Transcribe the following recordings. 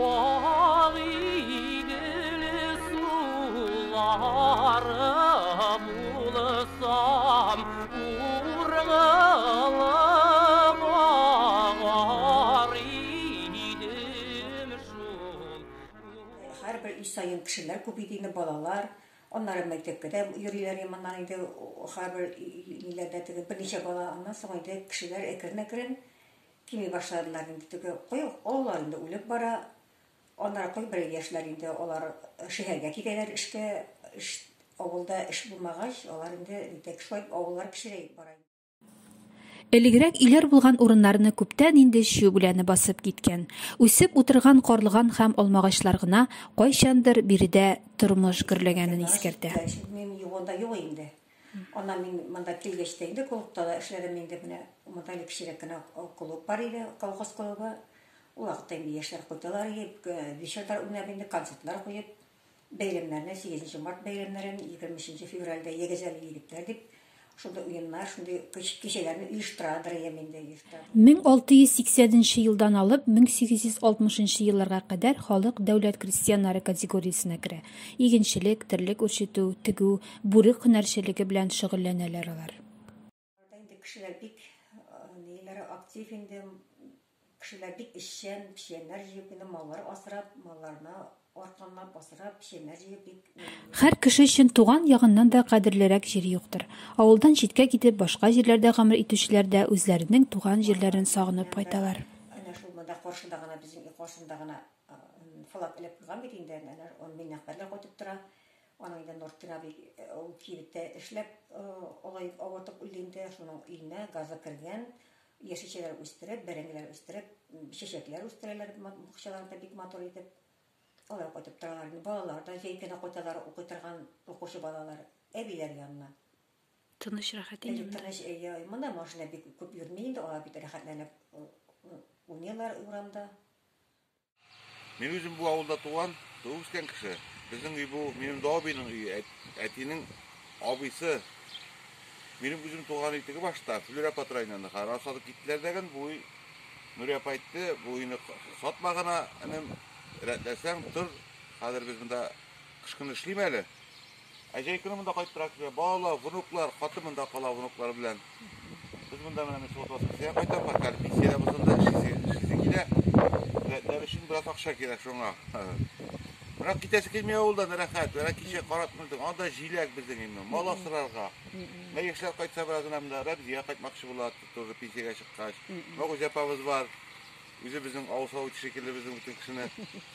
Ал игеле сулары булсам, ургылып агар идем шул. Һәрбер өй саен кешеләр күп иде инде, балалар. Аннары мәктәпкә дә йөриләр иманнан инде, һәрбер өйләрдә теге берничә бала. Аннан соң инде кешеләр әкрен-әкрен Тими башладылар инде теге кой олылар инде үлеп бара, аннары кой берәр яшьләр инде алар шәһәргә китәләр эшкә, эш авылда эш булмагач, алар инде нитәк шулай авыллар кечерәеп бара. Элегрәк өйләр булган урыннарны күптән инде чү үләне басып киткән, үсеп утырган карлыган һәм алмагачлар гына кайчандыр биредә тормыш гөрләгәнен искәртә. Чү үләне чү үләне юк анда юк инде. Аннан мин монда килгәч тә инде клубта да эшләдем инде менә монда әле кечерәк кенә клуб бар иде, колхоз клубы. Ул вакытта инде яшьләр кайталар иде, э, вечерлар уйнап инде концертлар куеп, бәйрәмнәрне, 8 март бәйрәмнәрен, 23 февральдә егезәле егетләр дип шундый уеннар, шундый кичәләрне оештырадыр идем инде. 1680 елдан алып 1860 елларга кадәр халык дәүләт крестьяннары категориясенә керә. Игенчелек, терлек үрчетү, тегү, Бүрек һөнәрчелеге белән шөгыльләнәләр алар. Инде кешеләр бик ниләре актив инде, кешеләр бик эшчән, печәннәр җыеп инде маллар асрап, малларны арканлап асрап, печәннәр җыеп бик. Һәр кеше өчен туган ягыннан да кадерлерәк җир юктыр. Авылдан читкә китеп, башка җирләрдә гомер итүчеләр дә үзләренең туган җирләрен сагынып кайталар. Әнә шул монда каршыда гына, безнең өй каршында гына флаг элеп куйган бит инде, әнә Миннехбәрләр кайтып тора. Аның инде Нортир абый ул кибеттә эшләп, олаеп, авыртып үлде инде. Шуның өенә газы кергән. Яшелчәләр үстереп, бәрәңгеләр үстереп, чәчәкләр үстерәләр бакчаларында бик матур итеп. Алар кайтып торалар инде. Балалар да җәй көне кайталар укый торган укучы балалар әбиләр янына. Тыныч, рәхәт инде монда. Тыныч, әйе. Монда машина бик күп йөрми инде. Алар бит рәхәтләнеп уйныйлар урамда. Мин үзем бу авылда туган, туып үскән кеше. Безнең өй бу, минем дә абыйның өе, әтинең абыйсы. Минем үзем туган өй теге башта, Флюр апа районында. Хәзер сатып киттеләр дәген, бу өй Нури апа әйтте, бу өйне сатма гына, энем, рәтләсәң тор. Хәзер без монда кыш көне эшлим әле. Ә җәй көне монда кайтып тора кешеләр. Балалар, внуклар, хатын монда кала внуклар белән. Без монда менә мисал Воскресенье кайтам, хәтта пенсиядә булсам да эшлисе эшлисе килә. Дәтләр өчен бераз акча кирәк шуңа. Берак китәсе килми авылда да рәхәт. Берак кичә карап күрдек. Анда җиләк безнең инде. Мал асрарга. Мә яшьләр кайтса бераз гына монда Рәбзия кайтмакчы була, тоже пенсиягә чыккач. Мәгүзә апабыз бар. Үзе безнең авыл савыт шикелле безнең бөтен кешене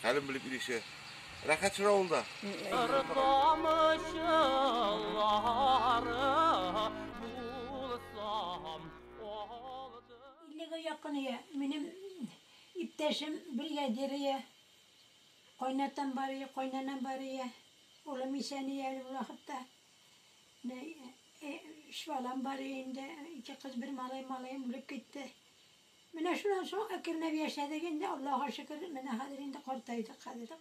хәлен белеп ирешә. Рәхәт шул авылда. Иллегә якын ия. Минем иптәшем бригадир ия. Кайнатам бар ия, кайнанам бар ия. Улым исән ия әле бу вакытта. Менә өч балам бар ия инде. Ике кыз, бер малай. Малаем үлеп китте. Менә шуннан соң әкренләп яшәдек инде, Аллага шөкер, менә хәзер инде картайдык хәзер.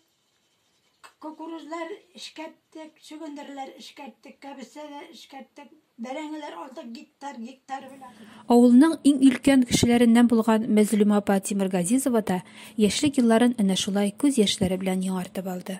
Кукурузлар эшкәрттек, чөгендерләр эшкәрттек, кәбестә дә эшкәрттек, бәрәңгеләр алдык гектар, гектар белән. Авылның иң өлкән кешеләреннән булган Мәзлүмә апа Тимергазизова да яшьлек елларын әнә шулай күз яшьләре белән яңартып алды.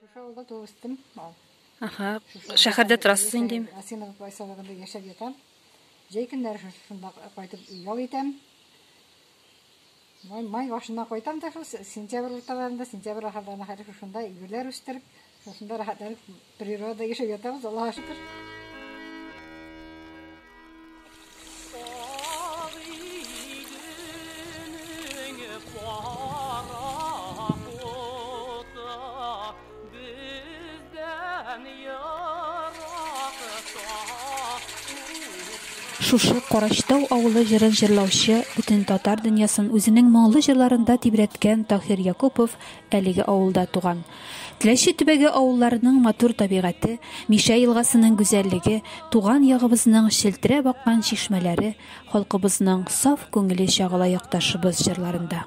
Шушы авылда туып үстем. Аха, шәһәрдә торасыз инде. Асенова поселогында яшәп ятам. Җәй көннәре шунда кайтып ял итәм. Май, май башыннан кайтам да шул сентябрь урталарында, сентябрь ахырларына хәтле шушында гөлләр үстереп, шушында рәхәтләнеп Природа яшәп ятабыз, Аллаһа шөкер. Шушы Карачтау авылы җырын җырлаучы бөтен татар дөньясын үзенең моңлы җырларында тибрәткән Таһир Якупов Әлеге авылда туган. Теләче төбәге авылларының матур табигате, Мишә елгасының гүзәллеге, туган ягыбызның челтерәп аккан чишмәләре, халкыбызның саф күңеле чагыла якташыбыз җырларында.